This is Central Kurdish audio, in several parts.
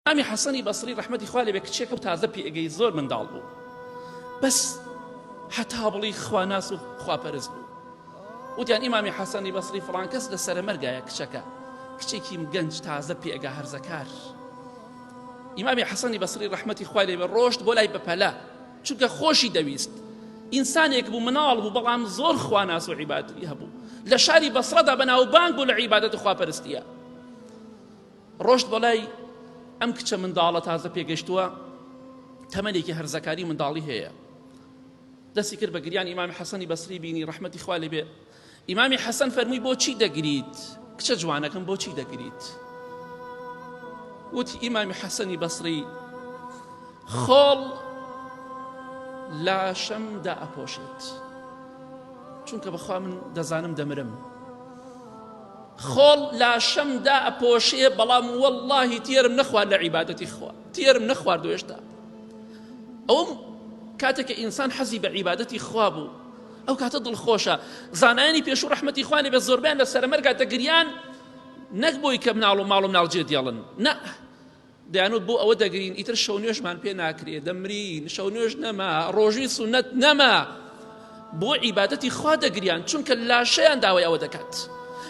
ئیمامی حەسەنی بەسری ڕەحمەتی خوا لێبێ کچێکە و تازە پێگەی زۆر منداڵ بوو بەس حەتا بڵی خواناس و خواپەرست بوو وتیان ئیمامی حەسەنی بەسری فڵان کەس لە سەرمەرگایە کچەکە کچێکی گەنج تازە پێگە هەرزەکار ئیمامی حەسەنی بەسری ڕەحمەتی خوای لێبێ ڕۆشت بۆ لای بەپەلە چونکە خۆشی دەویست ئینسانێک بوو مناڵ بوو بەڵام زۆر خواناس و عیباتی هەبوو لە شاری بەسڕدا بەناوبانگ بوو لە عیبادەت خواپەرستیە ڕۆشت بەلای ئەم کچە منداڵە تازە پێگەشتووە تەمەێکی هەرزەکاری منداڵی هەیە دەستی کرد بە گریان ئیمامی حەسەنی بەسری بینی ڕحمەتی خوا لێ بێ ئیمامی حەسەن فەرمووی بۆچی دەگریت کچە جوانەکەم بۆچی دەگریت وتی ئیمامی حەسەنی بەسری خۆڵ لاشەم دا ئەپۆشێت چونکە بەخوا من دەزانم دەمرم خۆڵ لاشەم دا ئەپۆشێ بەڵام وەڵاهی تێرم نەخوارد لە عیبادەتی خوا تێرم نەخوارد و هێشتا ئەوم کاتێک کە ئینسان حەزی بە عیبادەتی خوا بوو ئەو کاتە دڵخۆشە زانایانی پێش و ڕحمەتی خوانێ بە زۆربیان لە سەرمەرگا دەگریان نەک بۆی کە مناڵ و ماڵ و مناڵ جێ دێڵن نە دەیانوت بۆ ئەوە دەگرین ئیتر شەو نوێژمان پێ ناکرێ دەمرین شەو نوێژ نەما ڕۆژوی سونەت نەما بۆ عیبادەتی خوا دەگریان چونکە لاشەیان داوای ئەوە دەکات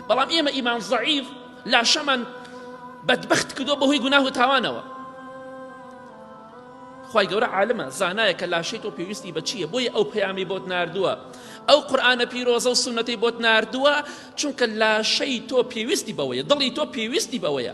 بەڵام ئێمە ئیمان زعیف لاشەمان بەدبخت کردو بەهۆی گوناه و تاوانەوە خی گەورە عالمە زانایە کە لاشەی تۆ پێویستی بە چییە بۆیە ئەو پەیامی بۆت نردووە ئەو قورآانە پیرۆزە و سونەتی بۆت نردووە چونکە لاشەی تۆ پێویستی بەوەیە دڵی تۆ پێویستی بەوەیە